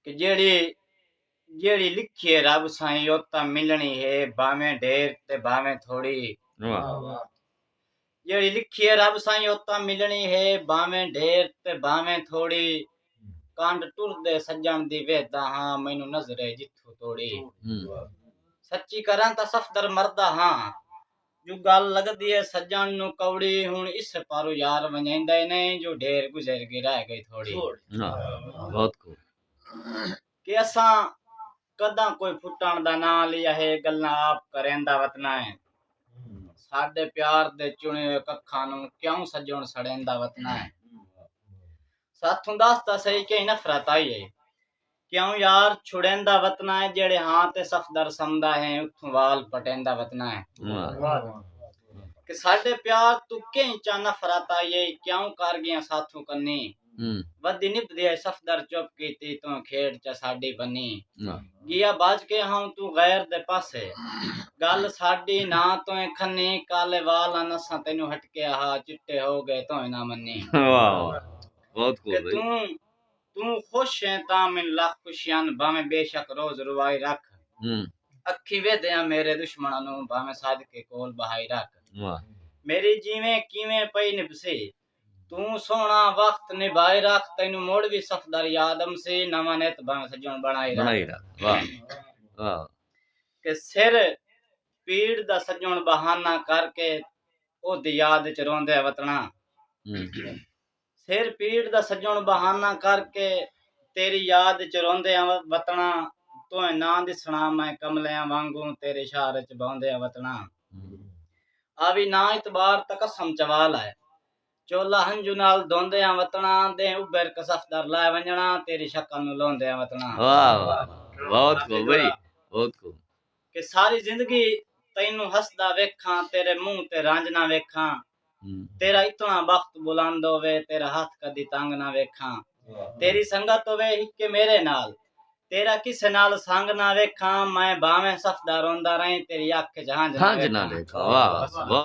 کہ جیڑھی جیڑھی لکھی ہے رب سائیں او تاں ملنڑی ہے بھانویں ڈھیر تے بھانویں تھوڑی جیڑھی لکھی ہے رب سائیں او تاں ملنڑی ہے بھانویں ڈھیر تے بھانویں تھوڑی کانڈ ٹردے سجن دی ویہدا ہاں مینوں نظرے جتھوں توڑی سچی کراں تاں صفدر مردا ہاں جو گالھ لگدی ہے سجݨ نوں کوڑی ہݨ اس پاروں یار ونڄائیندے نئیں جو ڈھیر گزر گی رہ گئی تھوڑی کہ اساں کداں کوئی پھٹݨ دا ناں لیا ہے گلاں آپ کریندا وتنا ہے ساڈے پیار دے چݨے ہوئے ککھاں نوں کیوں سجݨ سڑیندا وتنا ہے ساتھوں دس تاں سہی کہیں نفرت آئی ہے کیوں یار چھڑیندا وطنا ہے جیڑھے ہاں تے صفدر سمدا ہیں اتھوں وال پٹیندا وطنا ہے کہ ساڈے پیار تو کہیں چا نفرت آئی ائی کیوں کر گیاں ساتھوں کنی ودی نبھدی ائی صفدر چپ کیتی توں کھیڈ چا ساڈی بنی گیا بھج کے ہاں توں غیر دے پاسے گل ساڈی نہ توں کھنی کالے وال ہن اساں تینوں ہٹکیا ہا چٹے ہو گئے توں نہ منی کہ توں توں خوش ہیں تاں من لکھ خوشیاں بھاویں بے شک روز روائی رکھ اکھیں ویدھیاں میرے دشمناں نوں بھاویں سد کے کول بہائی رکھ میری جیویں کیویں پئی نبھسی توں سوہنڑا وخت نبھائی رکھ تینوں مڑ وی صفدر یاد امسی نواں نت بھاویں سجنڑ بنڑائی رکھ کہ سر پیڑ دا سجنڑ بہانہ کر کے اودی یاد اچ روندے وتنڑاں۔ سر پیڑ دا سجݨ بہانہ کر کے تیݙی یاد اچ روندے آں وطنا تونہہ ناں ݙسݨا میں کملیاں وانگوں تیݙے شہر اچ بھوندے آں وطنا آوی ناں اعتبار تاں قسم چوا لائے چولا ہنجو نال دھوندے آں وطنا ݙینہہ ابھر کے صفدر لائے ونڄݨا تیݙی شکل نوں لوندے آں وطنا واہ واہ بہت خوب بھئی بہت خوب۔ کہ ساری زندگی تینوں ہسدا ویکھاں تیݙے منہ تے رانجھنا ویکھاں تیرا اتنا بخت بلند ہووے تیرا ہتھ کدی تنگ نہ ویکھاں تیری سنگت ہووے ہکے میرے نال تیرا کسے نال سنگ نہ ویکھاں میں بھانویں سفدا روندا رہیں تیری اکھ اچ ہنج نہ ویکھاں